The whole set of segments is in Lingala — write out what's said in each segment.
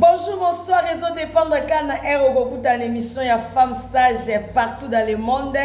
Bonjour, bonsoir, rezo dépendre quand na heure okokuta na émission ya femme sage partout dans le monde.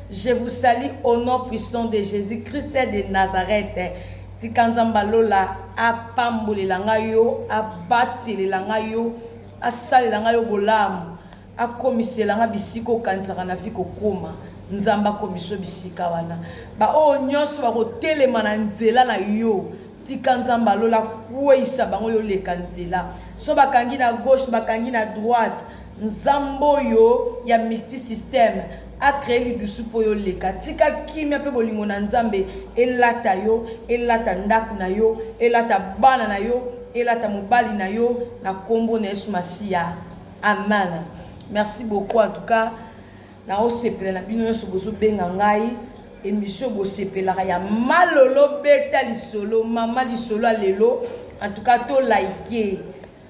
Je vous salue au nom puissant de Jésus-Christ de Nazareth. Tika Nzambe alola apambolela ngai yo, abatelela ngai yo, asalela ngai yo bolamu. Akomisela nga bisika okanisaka na vie kokoma, Nzambe akomisa yo bisika wana. Ba oyo nionso bako telema na nzela na yo, tika Nzambe ya lola akueyisa bango yo oleka nzela. Soki ba kangi na gauche, ba kangi na droite, Nzambe oyo ya multisystème a cree lidusu po yo oleka. Tika kimia pe bolingo na Nzambe elata yo, elata ndaku na yo, elata bana na yo, elata mobali na yo, na kombo na Yesu Masiya. Amen merci beaucoup en tout cas na osepela na bino nyonso bozobenga ngai emission bosepelaka ya malolo beta lisolo mama lisolo ya lelo en tout cas to like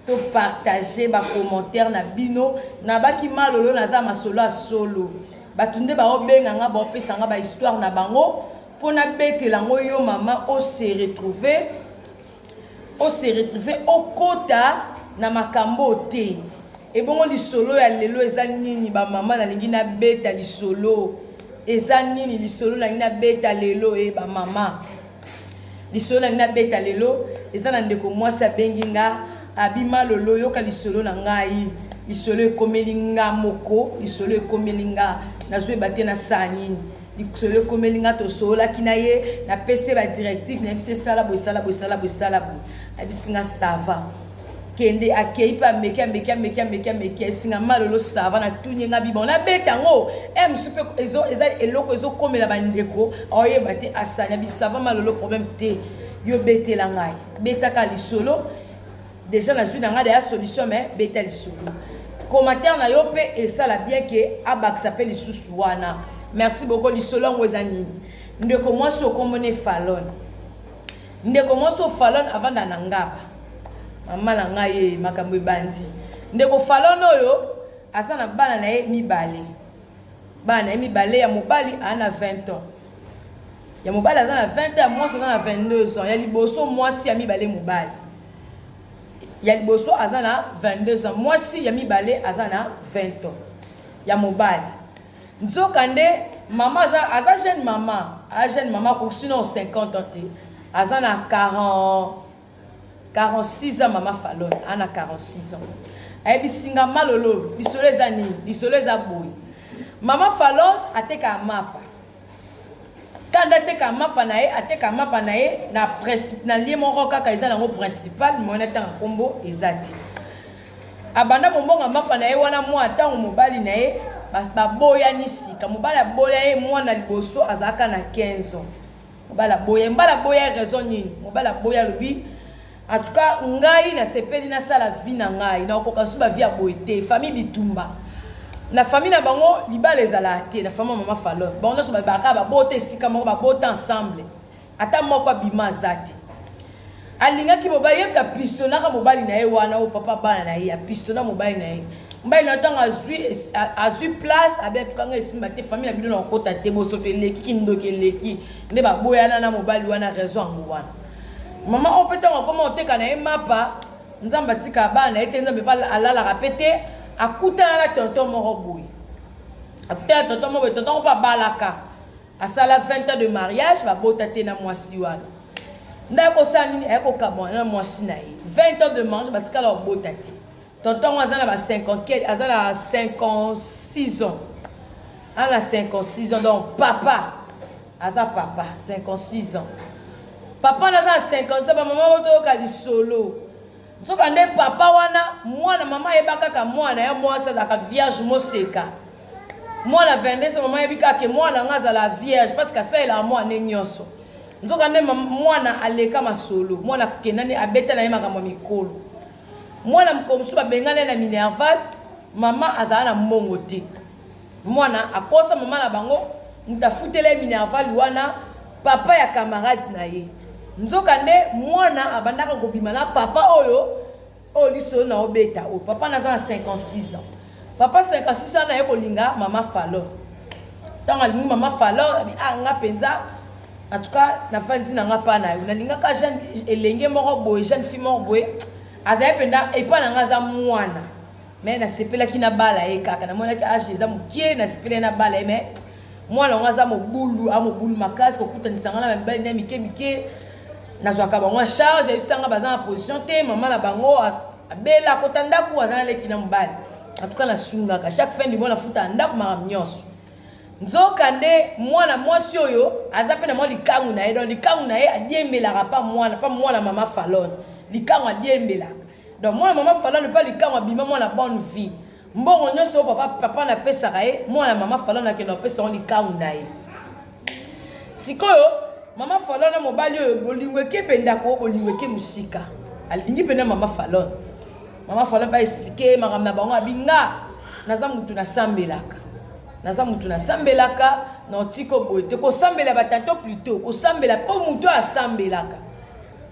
to partage bacommentaire na bino nabaki malolo naza masolo ya solo bato nde baobenga nga baopesa nga bahistoire na bango mpo nabetela yango yo mama ose retrouver o se retrouver okota na makambo oyo te ebongo lisolo ya lelo eza nini ba mama nalingi na beta lisolo eza nini lisolo nalingi na beta lelo e eh, ba mama lisolo nalingi na beta lelo eza na ndeko mwasi abengi nga abima lolo yoka lisolo na ngai lisolo ekomeli nga moko lisolo ekomeli nga nazweba te na saa nini Lisolo ekomeli nga tosololaki na ye napesi ye ba directive nayebisi ye sala boye sala boye sala boye sala boye ayebisi nga sava kende akei mpe ameki ameki ameki ameki ameki esinga malolo sava natuni ye nga biba ona beta yango e eh, mosusu mpe eza eloko ezokomela bandeko aoyeba te asani abisava malolo problème te yo betela ngai betaka lisolo Dejà nazui na nga dejà solution mais beta lisolo. Commentaire na yo pe esala bien que abakisa pe lisusu wana. Merci beaucoup lisolo yango eza nini? Ndeko mwasi okombo ne Falon. Ndeko mwasi o Falon avanda na ngaba. Mama na nga ye makambo ebandi. Ndeko Falon oyo aza na bana na ye mibale. Bana ye mibale ya mobali ana 20 ans. ya mobali aza na 20 ans ya mwasi aza na 22 ans ya liboso mwasi ya mibale mobali ya liboso aza na 22 ans mwasi ya mibale aza na 20 ans ya mobali nzoka nde mama aza, aza jeune mama aza jeune mama kusina o 50 ans te aza na 40 46 ans mama falone a na 46 ans ayebisi nga ma lolo lisolo eza nini lisolo eza boye mama falone atekaka mapa kanda ateka mapa na ye ateka mapa na ye na na lie moko kaka eza nango principal moyen atanga nkombo eza te abanda kombonga mapa na ye wana mwa ntango mobali na ye baboyani sika mobali aboya ye mwana liboso azalaka na 15 ans Mobali aboya, mobali aboya raison nini? Mobali aboya alobi en tout cas ngai nasepeli nasala vie na ngai nakokoka lisusu ba vie ya boye te famille bitumba na famille na bango libala ezalaka te na famille ya mama falon bango nyonso babaka babota esika moko babota ensemble ata moko abima aza te Alingaki mobali ye mutu apistonnaka mobali na ye wana oyo papa bana na ye apistonna mobali na ye mobali na ntango azwi azwi place abi atukanga esimba te famille na bino na kokota te bosoto eleki kindoki eleki nde baboyana na mobali wana raison yango wana mama oyo mpe ntango akoma oteka na ye mapa nzambe atika bana na ye te nzambe mpe alalaka mpe te akutana na tonton moko boye akutana tonton moko boye tonton moko mpe abalaka Asala 20 ans de mariage ba bota te na mwasi wana. Nda akosala nini aya kokamwa na mwasi na ye 20 ans de mariage batikala kobota te tonton yango aza na ba 54 aza na 56 ans aza na 56 ans donc papa aza papa 56 ans papa wana aza na 56 bamama oyo toyoka lisolo Nzoka nde papa wana mwana mama ayeba kaka mwana ya mwasi azalaka vierge moseka mwana 22 mama ayebi kaka mwana yango azala vierge parce que asalelaka mwana nde nyonso nzoka nde mwana aleka masolo mwana akenda nde abeta na ye makambo ya mikolo mwana mokolo mosusu babengana ye na minerval mama azala na mbongo te Muana akosa maman na bango mutu afutela ye minerval wana papa ya camarade na ye nzoka nde muana abandaka kobima na papa oyo oyo liso na obeta oyo papa naza na 56 ans papa 56 ans na ye kolinga mama falor ntango alingi mama falor abi ah nga mpenza en tout cas nafandi na nga mpa na yo nalingaka jeune elenge moko boye jeune fille moko boye azali mpenza epai na nga aza mwana mais nasepelaki nabala ye kaka namonaki age eza mokie nasepelaki nabala ye mais mwana yango aza mobulu a mobulu makasi kokutanisa ngai na mibali na mike mike nazwaka bango a charge ayebisanga baza na position te mama na bango abela akota ndako aza na leki na mobali antuka nasungaka chaque fin du mois nafutaka ndako makambo nyonso nzoka nde mwana mwasi oyo aza mpe na mwa likangu na ye don likangu na ye adiembelaka mpa mwana mpa mwana mama falone likangu adiembelaka Donc mwana mama Falana epa likangu abima mwana bonne vie. Mbongo nionso papa papa na pesaka ye, mwana mama Falana akenda opesa ngo likangu na ye. Sikoyo mama Falana mobali oyo bolingo eke penda ko bolingo eke musika. Alingi penda mama Falana. Mama Falana pa expliquer makambo na bango abinga naza mutu na sambelaka. Naza mutu na sambelaka na otiko boye te kosambela ba tanto plutôt kosambela po mutu asambelaka.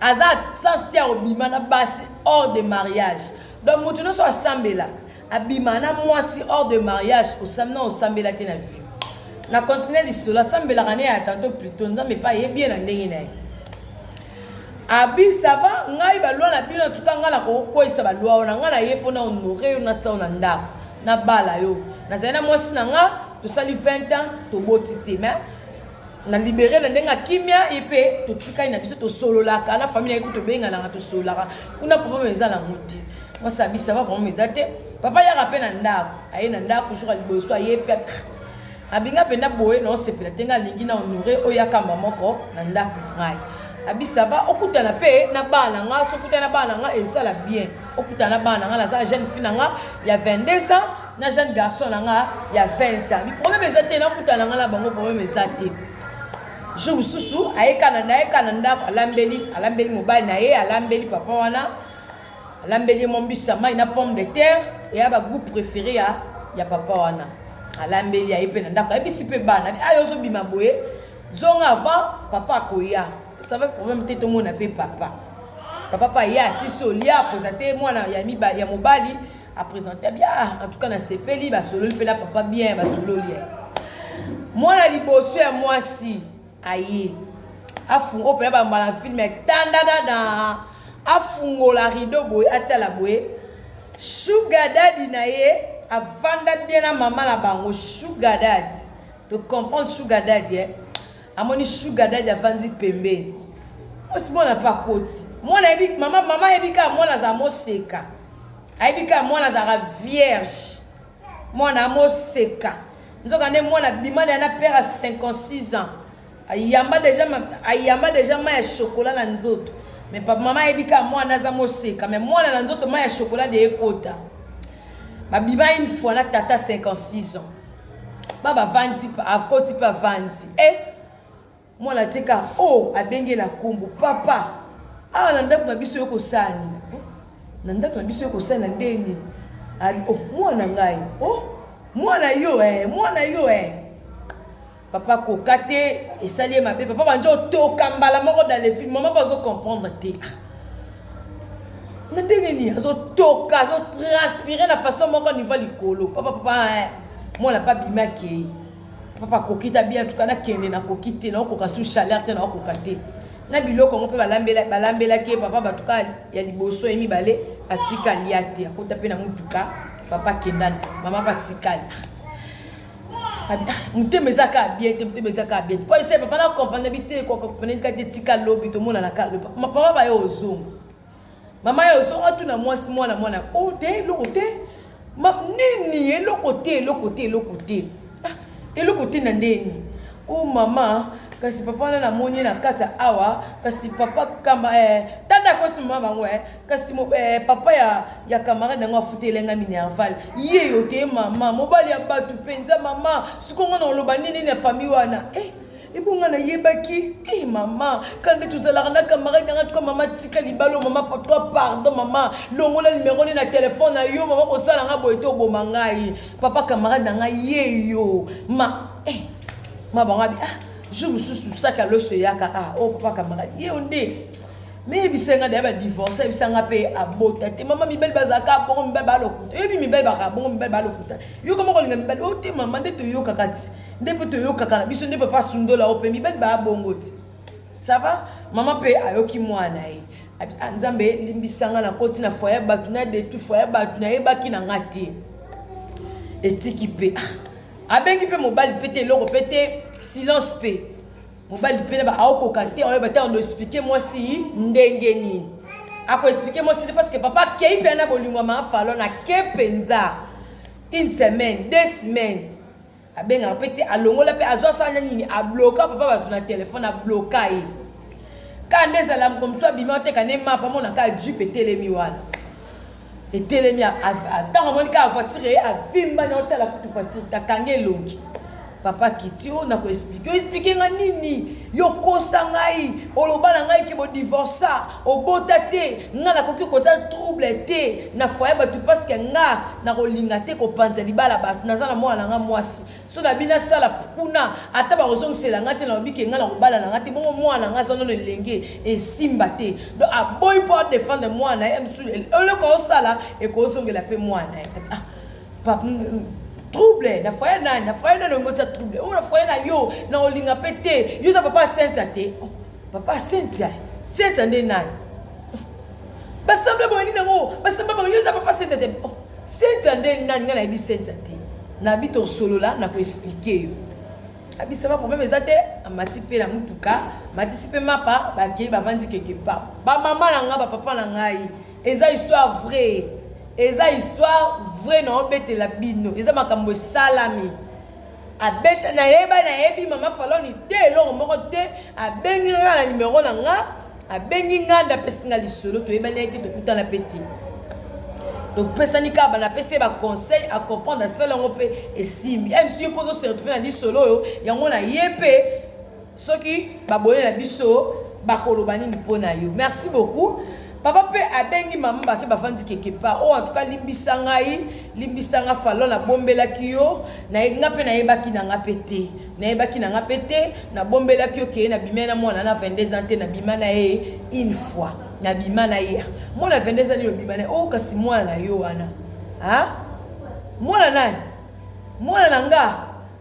aza sans tia obima na basi hors de mariage donc mutu nioso asambela abima na mwasi hors de mariage osam na osambela te na vie na continue lisolo asambelaka ne ya tanto plutot nzambe epa ye bien na ndenge na ye abi ça va ngai balwa na bino tuka ngai nakokweyisa balwa wana ngai na ye mpo na honore yo na tsao na ndako nabala yo nazali na mwasi na ngai tosali 20 ans toboti te mais na libere na ndenge ya kimia ye mpe totikali na biso tosololaka na famille na ye kutu tobenganaka tosololaka kuna problème eza na yango te mwasi abisa ba problème eza te papa yaka mpe na ndako aye na ndako jour ya liboso aye mpe abinga mpenza boye na osepela te ngai alingi na honore oyo akamba moko na ndako na ngai abisa ba okutana mpe na bana na ngai sokutana na bana na ngai esala bien okutana na bana na ngai naza jeune fille na ngai ya 22 ans na jeune garçon na nga ya 20 ans problème eza te nakutana nga na bango problème eza te jour mosusu ayekana nayeka na ndako alambeli alambeli mobali na ye alambeli papa wana alambeli ye mwa mbisa mai na pomme de terre eya bagout préféré ya, ya papa wana alambeli aye mpe na ndako ayebisi mpe bana ayo ozobima boye zonga avant papa akoya osava problème te tomona mpe papa papa mpe aya asisi olia akoza te mwana ya, ya mobali a presenta bien ah, en tout cas nasepeli basololi mpe na papa bien basololi eh. mwana liboso ya mwasi aye afungo mpe ya bambala na filme etandadada afungola rideau boye atala boye sugar dadi na ye avanda bien na mama na bango sugar dadi to comprendre sugar dadi eh? amoni sugar daddy avandi pembeni mwasi mwana mpe akoti mwana ayebi mama mama ayebi kaka mwana azala moseka ayebi kaka mwana azalaka vierge mwana amoseka nzoka nde mwana bima na ye na pere ya 56 ans ayamba deja ayamba deja mai ya shokola na nzoto me papa mama ayebi kaka mwana aza moseka me mwana na nzoto mai ya shokola de ekota babima une fois na tata 56 ans ba bavandi akoti mpe avandi e eh, mwana atika o oh, abengela nkombo papa awa na ndako na biso yo kosalanina eh, na ndako na biso yo kosalina nde nini oh, mwana ngai o mwana yo e mwana yo e papa koka te esali ye mabe papa banja otoka mbala moko dalefilme mama bazo comprendre te ah. na ndenge nini azotoka azotranspire na façon moko niveau ya likolo papa papa eh, mwana pa bimi akei papa akoki ta bien tuka nakende nakoki te naokoka su chaleur te naokoka te na biloko yango mpe balambelaki ye papa batuka ya liboso ye mibale atikali ya te akota mpe na motuka papa kenda mama mpe atikali motema eza kaka bien te motema eza kaka bien te mpo ese papa na comprendre bi te comprendre kaka te tika lobi tomonana kaka lobi mama baye ozonga mama ye ozonga tuna mwasi mwana mwana o oh, te eloko te nini eloko te eloko te eloko te ah, eloko te na ndeni o oh, mama kasi papa wana namoni na kati awa kasi papa kamba eh, tanda akosi mama bango eh, kasi mo, eh, papa ya, ya camarade yango afutela nga minerval ye yo te mama mobali ya bato mpenza mama siko nga na oloba nini nini ya famille wana eh, ebonga nayebaki e mama kande tozalaka na camarade yanga tuka mama tika libalo mama patwa pardon mama longola nimero nde na telefone na yo mama kosala nga boye te oboma ngai papa camarade na ngai ye yo ma e eh, ma bango abi ah jour mosusu saka loso eyaka ah o oh, papa camarade ye yo nde me yebisa nga daya badivorce yebisa nga mpe abota te mama mibali bazalaka bongo mibali balokuta oyebi mibali bakaka bongo mibali balokuta yoka moko olinga mibali o te mama nde toyokaka ti nde mpe toyokaka na biso nde papa asundola o mpe mibali baya bongo ti ça va mama mpe ayoki mwana ye ah, nzambe limbisa nga nakoti na foye bato na detu foye bato nayebaki na nga te etiki mpe ah, abengi mpe mobali mpe te eloko mpe te silence mpe Mobali pena ba aokoka te oyo batanga no expliquer mwasi ndenge nini. Ako expliquer mwasi te parce que papa kei pena bolingwa ma falo na ke penza. Une semaine, deux semaines. Abenga pe te alongola pe azo sala nini a bloka papa bazo na téléphone a bloka ye. Kande zala mkomso abima te kane mapa mona ka jupe telemi wana. etelemi ntango amoni kaka voiture eye avimba na otala kutu voiture akangi elongi papa kiti oyo na koexplike oexplike nga nini yokosa ngai oloba na ngai ke bodivorsa obota te nga nakoki koza trouble te na foye bato paske nga nakolinga te kopanza libala bato naza na mwana na ngai mwasi Son na bino asala kuna ata bakozongisela nga te nalobi ke nga na kobala na nga te bongo mwana nga aza nono elenge esimba te donc aboyi mpo adefendre mwana ye mosusu eloko osala ekozongela mpe mwana ye ah, trouble na foye nani na foye nani ongotia trouble oyo na foye na yo na olinga mpe te yo na papa asentia te oh, papa asentia sentia nde nani basemble boye nini yango basemble bango yo na papa asentia te oh. Cynthia nde nani nga nayebi Cynthia te nabi tosolola na ko expliquer yo abisama problème eza te amati mpe na motuka matisi mpe mapa bakei bavandi quelque part bamama na ngai bapapa na ngai eza histoire vrai eza histoire vrai na obetela bino eza makambo esalami Abeta na yeba na yebi mama faloni te eloko moko te abengi nga na numero na nga abengi nga nda pesi nga lisolo to yeba leki to kutana peti donc pesa ni kaba na pesi ba conseil a comprendre à sala ngo pe esimbi eh, msi yo pozo se retrouver na lisolo yo yango na yepe Soki baboye na biso bakoloba nini mpo na yo? Merci beaucoup. Papa pe abengi mama bake bavandi quelque part. Oh en tout cas limbisa ngai, limbisa nga fallo na bombelaki yo, na nga pe nayebaki na nga pe te. Nayebaki na nga pe te, na bombelaki yo ke na bimia na mwana na 22 ans te na bima na ye une fois. Na bima na ye. Mwana 22 ans yo bima na oh kasi mwana na yo wana. Hein? Mwana nani? Mwana na nga.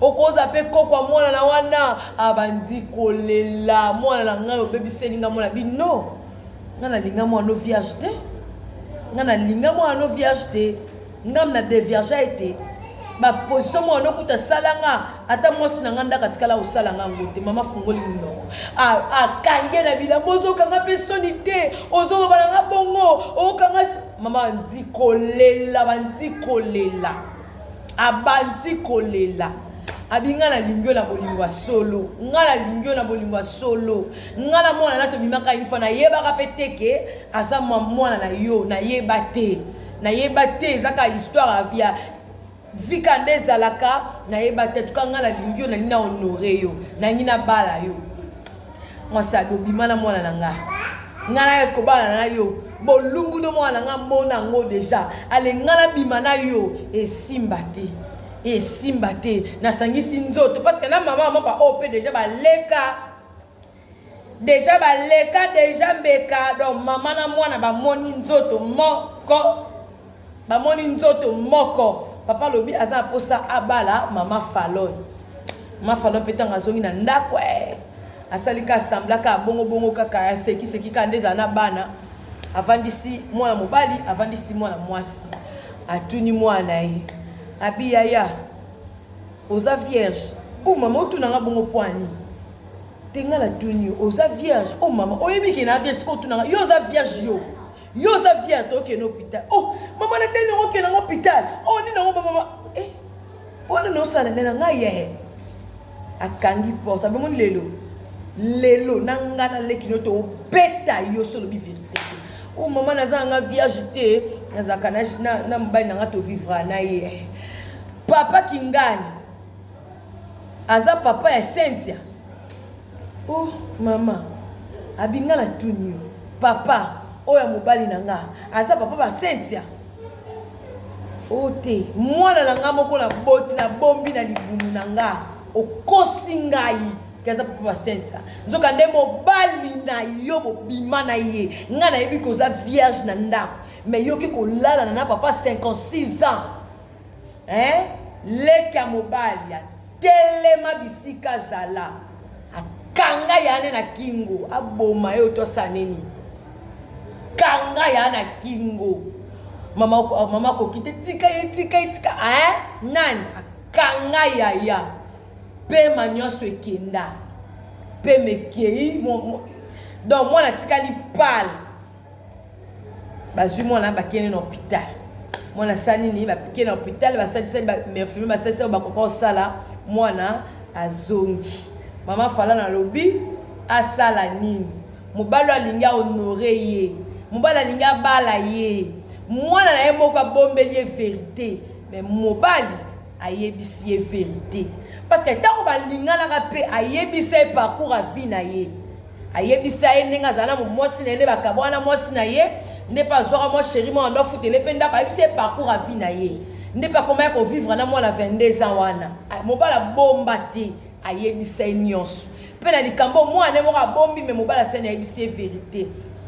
Okoza pe koko ya mwana na wana abandi kolela mwana na ngai obebiseli nga mwana bi no nga na linga mwana no vierge te nga na linga mwana no vierge te nga na devierge ete ba position mwana no kuta sala nga ata mwasi na nga ndaka tikala osala nga ngo te mama fungoli munoko akange na bilambo ozokanga pe soni te ozoloba na nga bongo okanga mama bandi kolela bandi kolela abandi kolela abi ngai nalingi yo na bolingo ya solo ngai nalingi yo na bolingo ya solo ngai na mwana na tobimaka infa nayebaka mpe te ke aza mwana na yo nayeba te nayeba te ezaka histoire ya vika nde ezalaka nayeba te tuka ngai nalingi yo nalingi na honore yo nalingi nabala yo Mwasi alobi, bima na mwana na nga. Nga na kobala na yo. Bolumbu no mwana na nga mona ngo deja. Ale nga na bima na yo. Esimba te. Esimba te. Nasangisi nzoto. Parce que na mama mama ba OP deja ba leka. deja baleka deja mbeka donc mama na mwana bamoni nzoto moko Bamoni nzoto moko. Papa alobi aza na posa abala mama Falon. Mama Falon pe tango azongi na ndako eh asali ka sembla ka bongo bongo kaka ya seki seki ka nde za na bana. Avandisi mwana mobali, avandisi mwana mwasi. Atuni mwana ye. Abi yaya oza vierge? Oh mama otuna nga bongo poani? Te nga na tuni oza vierge? Oh mama oyebi ke na vierge ko tuna nga yo oza vierge yo? Yo oza fière to keno hôpital. Oh, maman na deni ngo keno hôpital. Oh, ni ngo maman. Eh. Wana no sala na nga ye. Akangi porte abemo lelo. Lelo na nga na leki no to beta yo solo bi vérité. Oh maman naza nga vierge te. Naza kana na na mobali na nga to vivra na ye. Papa Kingani. Aza papa ya Cynthia. Oh mama abi nga na tuni yo papa oyo ya mobali na nga aza papa ba Cynthia o oh, te mwana na nga moko na boti na bombi na libumu na nga okosi ngai ke aza papa ba Cynthia nzoka nde mobali na yo bobima na ye nga nayebi koza vierge na ndako mais yoki kolalana na papa 56 ans Hein leki ya mobali a telema bisika zala a kanga ya ne na kingo a boma yo to asala nini kanga ya na kingo mama ah, mama ko kite tika ye tika ye tika hein nani a kanga ya ya pe ma nionso ekenda pe mekei donc mwana atikali pale bazwi mwana bakende na hopital mwana asala nini bakende na hopital basalisali bainfirmier basalisi oyo bakoka kosala mwana azongi mama fala nalobi asala nini mobali alingi ahonore ye mobali alingi abala ye mwana na ye moko abombeli ye verite me mobali ayebisi ye verite parce que tango balinganaka pe ayebisa ye parcours ya vie na ye ayebisa ye ndenge azala na mwasi na ye nde bakabwana na mwasi na ye nde mpe azwaka mwa sheri mwana ndo afutele mpe ndako ayebisa ye parcours ya vie na ye nde mpe akomaya kovivre na mwana 22 ans wana mobala bomba te ayebisa ye nyonso Pe na likambo mwana ye moko abombi me mobali asali ayebisi ye verite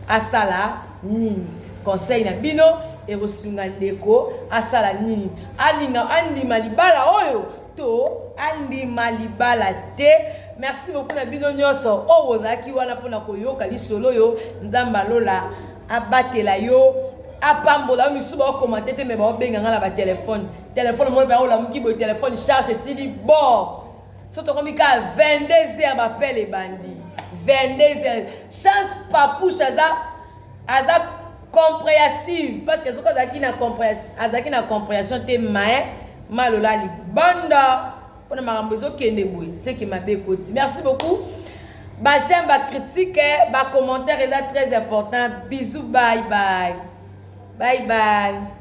asala nini? Conseil na bino ekosunga ndeko asala nini? Alinga andima libala oyo to andima libala te? Merci beaucoup na bino nyonso oyo bozalaki wana mpo na koyoka lisolo oyo. Nzambe ya lola abatela yo apambola yo misusu baokomante te me baobenga ngai na batelefone telefone moko baolamuki boye telefone charge esili bo so tokomi kaka 22 heures bapele ebandi 22 heures chance papouche aza aza comprehensive parce que soki azalaki na azalaki na comprehension te mai malola libanda mpona makambo ezokende boye seke mabe ekoti merci beaucoup bajame bacritique eh, bacommentaire eza très important bisous bye bye bye bye